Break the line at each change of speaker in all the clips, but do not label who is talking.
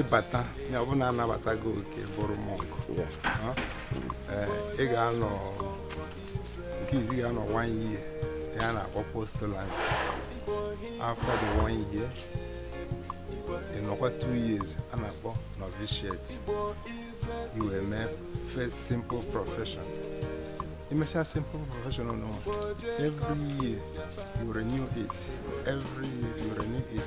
ịbata ya ọ bụ na a nabata gị oke bụrụ monk ị ga-anọ nke izizi ị ga-anọ one year a na-akpọ postulancy after the one year ị nọkwa two years a na-akpọ novitiate i wee mee first simple profession i mesha simple profession now every year you renew it every year you renew it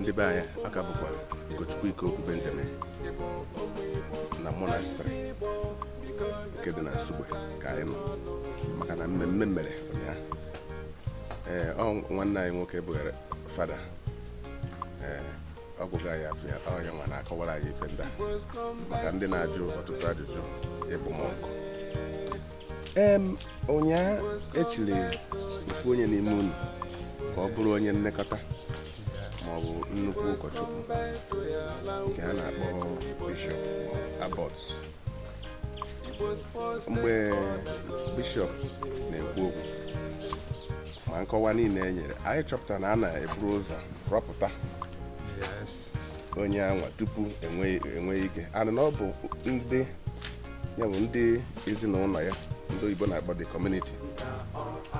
ndị be anyị ọ ka bụkwa Ugochukwu Ikeokwu Benjamin na monastery nke dị na Nsugbe ka anyị nọ maka na mmemme mere ụnyaahụ ee ọ nwanne anyị nwoke bụghara fada ee ọ ga-agwa anyị afa ya ọ ya nwa na-akọwara anyị ife ndị a maka ndị na-ajụ ọtụtụ ajụjụ ịbụ monk ụnyaahụ e chiri ofu onye n'ime unu ka ọ bụrụ onye nlekọta ma ọ bụ nnukwu ụkọchukwu nke a na-akpọ bishọp abbot mgbe bishọp na-ekwu okwu ma nkọwa niile e nyere anyị chọpụtara na a na-eburu ụzọ rọpụta onye anwa tupu e nwee ike a nụ na ọ bụ ndị ya bụ ndị ezinụlọ ya ndị oyibo na-akpọ the community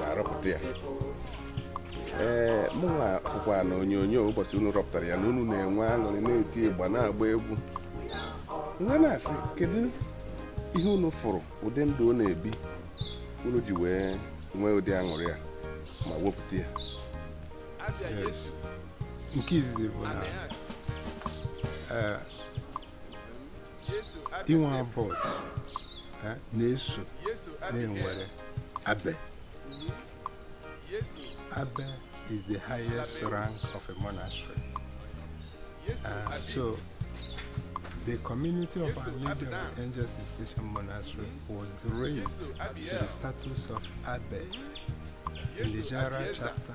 na-arọpụta ya ee mụnwa fụkwa na onyonyo ụbọchị unu rọpụtara ya na unu na-enwe aṅụrị na-eti ịgba na-agba egwu m wee na-asị kedu ihe unu fụrụ ụdị ndụ ọ na-ebi unu ji wee nwee ụdị aṅụrị ya ma wepụta ya
nke izizi bụ na eh, inwe abbot eh, na-eso na e nwere abbey abbey is the highest rank of a monastery uh, so the community of our lady of angels Cistercian monastery was raised to the status of abbey in the general chapter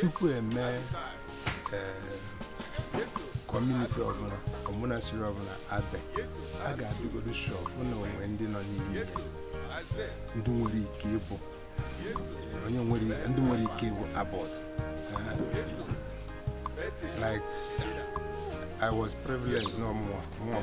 tupu e mee eh, community ọbụla or monastery ọbụla abbey a ga-adịgodo sure bụ na o nwe ndị nọ n'ime ndị nwere ike ịbụ onye nwere ndị nwere ike ịbụ abbot like I was privileged no more more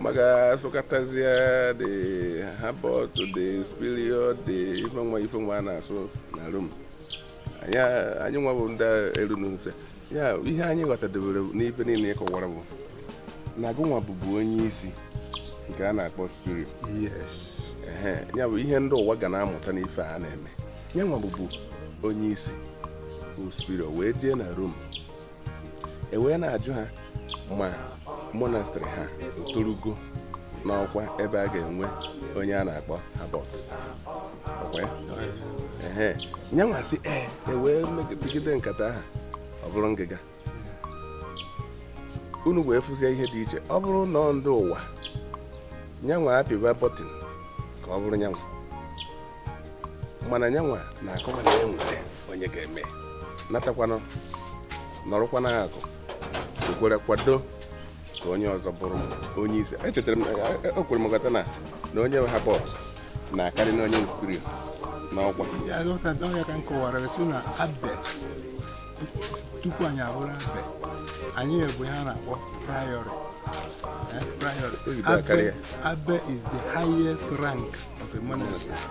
maka a sụkatazie the abbot the superior the ife nwa ife nwa a na-asụ na rom anyị anyị nwa bụ ndị eru n'ufe ya ihe anyị ghọtadebere n'ife niile ị kọwara bụ na gụnwa bụbu onye isi nke a na-akpọ
superior ehe ya
bụ ihe ndị ụwa ga na-amụta n'ife a na-eme ya nwa bụbu onye isi bụ superior wee jee na rom e wee na-ajụ ha ma monastery ha torugo n'ọkwa ebe a ga-enwe onye a na-akpọ abbot nyanwa sị ee e wee megide nkata aha ọ bụrụ ngịga unu wee fụzie ihe dị iche ọ bụrụ na ndị ụwa nyanwa apịwa button ka ọ bụrụ nyanwa mana nyanwa na-akọwa na e nwere onye ga-eme natakwanụ nọrọkwa n'akụkụ were kwado ka onye ọzọ bụrụ onye isi echetara m ekwere m ghọta na na onye abbot na-akarị na onye nstri n'ọkwa
ọ ya ka m kọwara sị na abbey tupu anyị abụrụ abbey anyị bụ ihe a na-akpọ priory abbey is the highest rank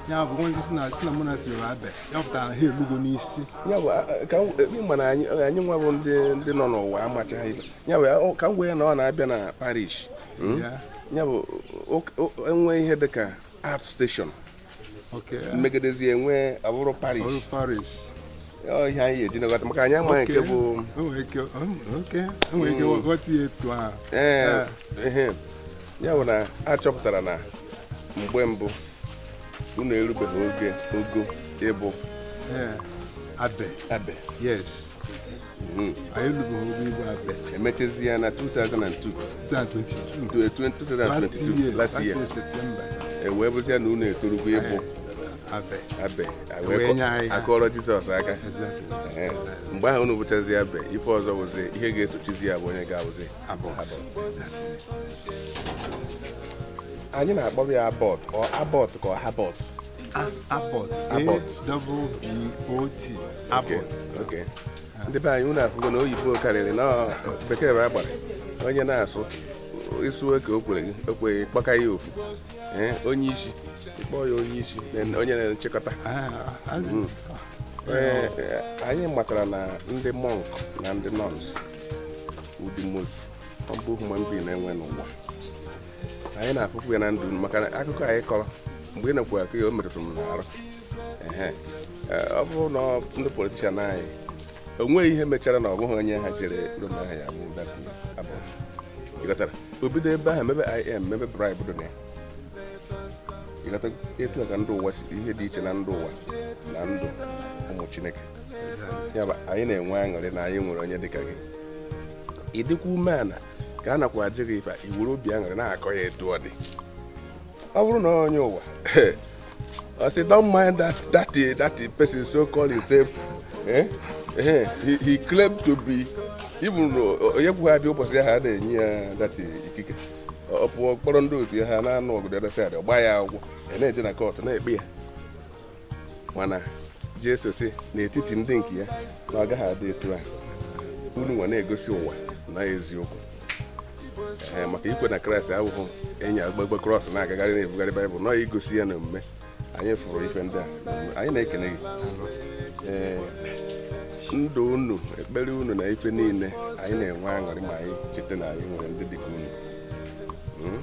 ya bụ onye sị na sị na monastery bụ abbey ya pụtara na ha elugo n'isi ya
bụ ka ịma na anyị nwa bụ ndị ndị nọ n'ụwa amachaghị ibe ya bụ ka m wee na ọ na-abịa na parish hmm? ya bụ e nwee ihe dị ka outstation e megidezie e wee bụrụ parish ihe anyị ga-eji na-aghọta maka anyị amaghị nke bụ ee ya bụ na a chọpụtara na mgbe mbụ unu erubeghị oge ogo ịbụ abbey abbey
yes hmm. anyị erubeghị ogo ịbụ
abbey e mechazie ya na 2022 2022 last year e
wee bụzi ya na
unu etorugo ịbụ abbey a kụọrọ jizọs aka mgbe ahụ unu bụchazi abbey ife ọzọ wụzi ihe ga-esochizi ya bụ onye ga-awụzi anyị na-akpọ ya abbot ọ abbot ka ọ
habbot abbot
abbot ndị be anyị unu afụgo na oyibo karịrị na bekee bụ agbara onye na-asụ ị sụọ ka o kwere gị o kweghị kpọka ya ofu eh, onye isi ị kpọọ ya onye isi onye na-achịkọta ah, hmm. eh, eh, anyị matara na ndị monk na ndị nuns wụ the most humble human being na-enwe n'ụwa anyị na-afụkwu ya na ndụ maka na akụkọ anyị kọrọ mgbe ị nakwa akọ ya o metụtara m n'arụ ọ bụrụ na ndị politician anyị o nweghị ihe mechara na ọ bụghị onye aha jere Rome aha ya bụ ị ghọtara o bido ebe ahụ mebe IM mebe bribe dị na ya ị ghọta etu a ka ndị ụwa si ihe dị iche na ndị ụwa na ndụ ụmụ chineke ya bụ anyị na-enwe aṅụrị na anyị nwere onye dịka gị ị dịkwa umeala ka a nakwa ajụ gị ife i were obi aṅụrị na-akọ ya etu ọ dị ọ bụrụ na onye ụwa I say, don't mind that that uh, that uh, person so called himself. Eh? Eh, he, he claimed to be even onye kwughị abịa ụbọchị ahụ a na-enye ya that uh, ikike ọ pụọ kpọrọ ndị otu ya ha na-anụ ọgụ dada sad gba ya akwụkwọ ya na-eje na kọtụ na-ekpe ya mana jesu sị n'etiti ndị nke ya na ọ gaghị adị etu a unu nwa na-egosi ụwa na eziokwu ee maka ikwe na kraịst abụghị ịnyagbagba krọs na-agagharị na-ebugharị baịbụl na ọ igosi ya na omume anyị fụrụ ife ndị a anyị na-ekene gị ee ndụ unu ekpere unu na ife niile anyị na-enwe aṅụrị ma anyị cheta na anyị nwere ndị dịka unu hmm?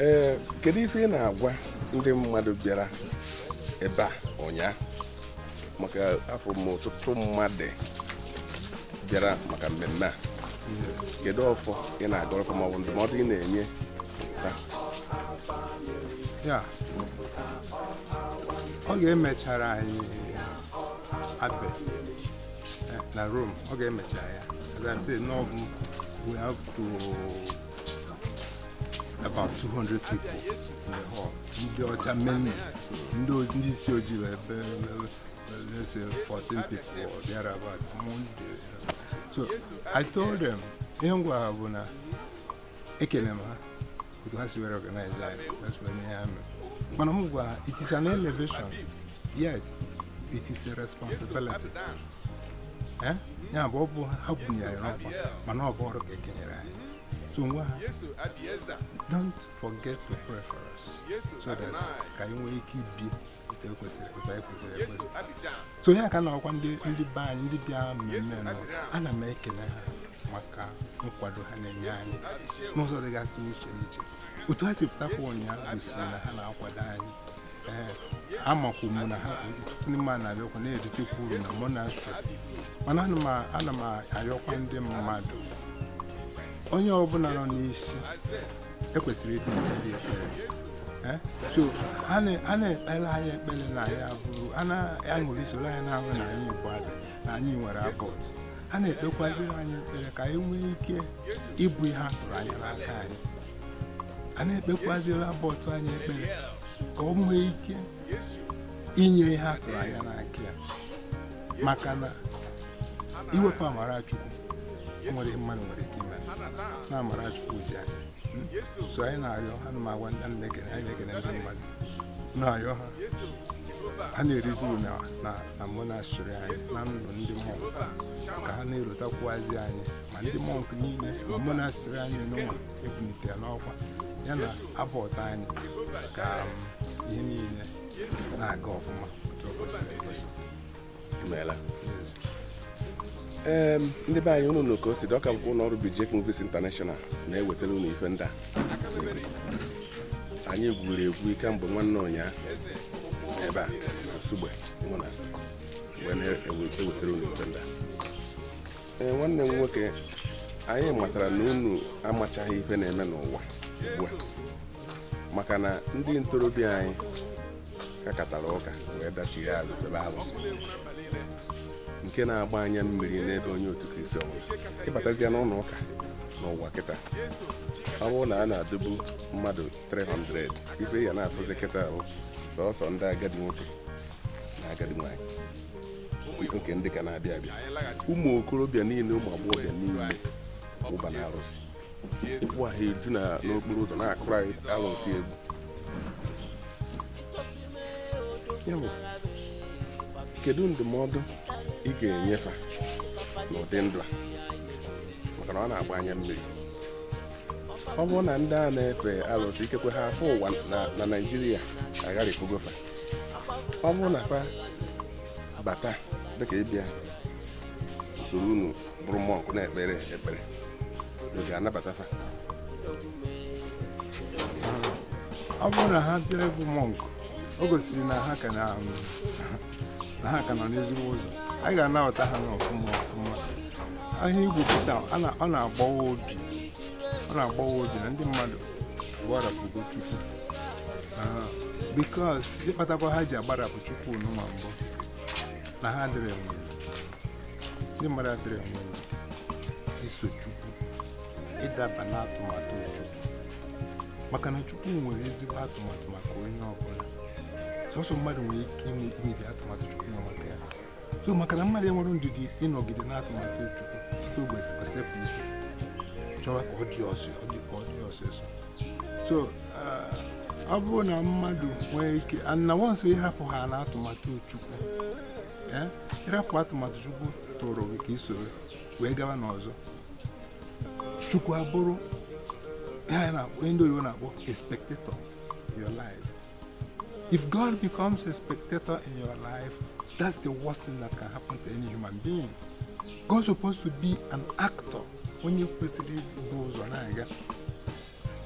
ee kedu ife ị na-agwa ndị mmadụ bịara ebe a ụnyaahụ maka afụrụ m ọtụtụ mmadụ bịara maka mmemme a kedu ọfọ ị na-agọrọ ha maọbụ ndụmọdụ ị na-enye ha
yeah oge e mechara anyị abbey eh, na Rome oge e mechara ya as I say n'ọbụ we have to about 200 people in the hall ndị ọcha mainly ndị isi ojii were let's say 14 people or thereabout so i told them ihe m gwara ha bụ na ekele m ha otu ha si were organize anyị that's when ihe ha mere mana m gwara it is an elevation Yes, it is a responsibility. Eh? Ya bụ ọ bụ ha bunyere n'ọkwa mana ọ bụ ọrụ ka e kenyere anyị. So m gwa ha, don't forget to pray for us so that ka anyị nwee ike ibi otu ekwesịrị otu anyị kwesịrị ekwesị. So ya ka m na-agwa ndị ndị be anyị ndị bịa mmemme na ana m ekele ha maka nkwado ha na-enye anyị n'ụzọ dịgasị iche iche. Otu ha si pụtakwa ụnyaahụ gosiri na ha na-akwado anyị amakwu m na ha ọtụtụ n'ime ha na-abịakwa na-eritekwa uru na monastery mana ana m a- ana m ayọkwa ndị mmadụ onye ọbụla nọ n'isi e kwesịrị ịdị na-ekpere ekpere Eh? so a na- a na-ekpere anyị ekpere na ya bụrụ a na-aṅụrị soro anyị na-aṅụ na anyị bụ abbey na anyị nwere abbot a na-ekpekwara anyị ekpere ka anyị nwee ike ịbụ ihe a tụrụ anya n'aka anyị a na-ekpekwaziri abbot anyị ekpere ka ọ nwee ike inye ihe a tụrụ anya n'aka ya maka na iwepụ amara chukwu o nwerọ ihe mmadụ nwere ike ime na amara chukwu ji anyị so anyị na-ayọ ha na m agwa ndị na-ekene anyị na-ekene ndị mmadụ na-ayọ ha ha na-erizi uru na na na monastery anyị na ndụ ndị monk ka ha na-erotakwuazi anyị ma ndị mọnk niile monastery anyị n'ụwa ebulite n'ọkwa ya na Abbot anyị ka um, ihe niile na-aga ọfụma otu o kwesịrị ekwesị. Imeela.
Yes. Ee, ndị be anyị unu nụ ka o si dị ọ ka bụkwa ụlọ ọrụ Bijek Movies International na-ewetara unu ife ndị a anyị gwuru egwu kemgbe nwanne ụnyaa ebe a na Nsugbe Monastery wee na-ewetara unu ife ndị a ee nwanne m nwoke anyị matara na unu amachaghị ife na-eme n'ụwa ugbu a maka na ndị ntorobịa anyị kakatara ụka wee dachigha azụ febe arụsị nke na-agba anya mmiri n'ebe onye otu kristi ọbụla ị batazia n'ụlọ ụka n'ụwa kịta ọ bụrụ na a na-adụbu mmadụ 300 ife ya na-afụzi kịta bụ sọsọ ndị agadi nwoke na agadi nwaanyị nke ndị ka na-abịa abịa ụmụ okorobịa niile ụmụ agbọghọbịa niile aba n'arụsị ụkwụ ha eju n'okporo ụzọ na-akụrụ anyị arụsị egwu ya bụ kedu ndụmọdụ ị ga-enye fa n'ụdị ndụ a maka na ọ na-agba anya mmiri ọ bụrụ na ndị a na-efe arụsị ikekwe ha afụwa na naijiria agharịpụgo fa ọ bụrụ na fa bata dịka ịbịa isoro unu bụrụ mọnk na-ekpere ekpere unu ga-anabata fa
ọ bụrụ na ha bịa ịbụ mọnk o gosiri na ha ka na- na ha ka nọ n'ezigbo ụzọ anyị ga-anabata ha n'ọfụma ọfụma ihe a i kwuputa a na- ọ na-agbawa obi ọ na-agbawa obi na ndị mmadụ gbarapụgo chukwu ah, because ihe kpatakwa ha ji agbarapụ chukwu n'ụwa bụ na ha adịrọ enwe ndị mmadụ adịrọ enwe iso chukwu ịdaba n'atụmatụ chukwu maka na chukwu nwere ezigbo atụmatụ maka onye ọbụla sọsọ mmadụ nwere ike imebi atụmatụ chukwu na maka ya so maka na mmadụ enwerọ ndidi ịnọgide n'atụmatụ chukwu tupu ụbọchị o sepụ isi chọwa ka ọ dị ọsọ ọ dị ka ọ dị ọsịsọ so uh, ọ bụrụ na mmadụ nwee ike na once ị hapụ ha na atụmatụ chukwu eh, ị rapụ atụmatụ chukwu tụrụ gị ka i soro wee gaba n'ọzọ chukwu abụrụ ihe na-akpọ ndị oyibo na-akpọ a spectator in your life if God becomes a spectator in your life that's the worst thing that can happen to any human being God's supposed to be an actor onye kwesịrị ibu ụzọ na-aga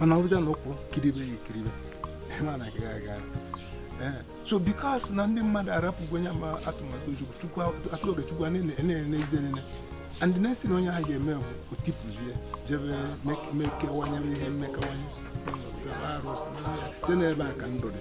mana ọ bụja na ụkwụ kiribe ya ekiribe ma na agaghị aga so because na ndị mmadụ arapụgo onye ma atụmatụ chukwu atụ oge chukwu na-enezi enene and the next thing onye ahụ ga-eme bụ o tipụzie jebe mekewanye ihe mekawanye jee n'ebe a ka ndụ dị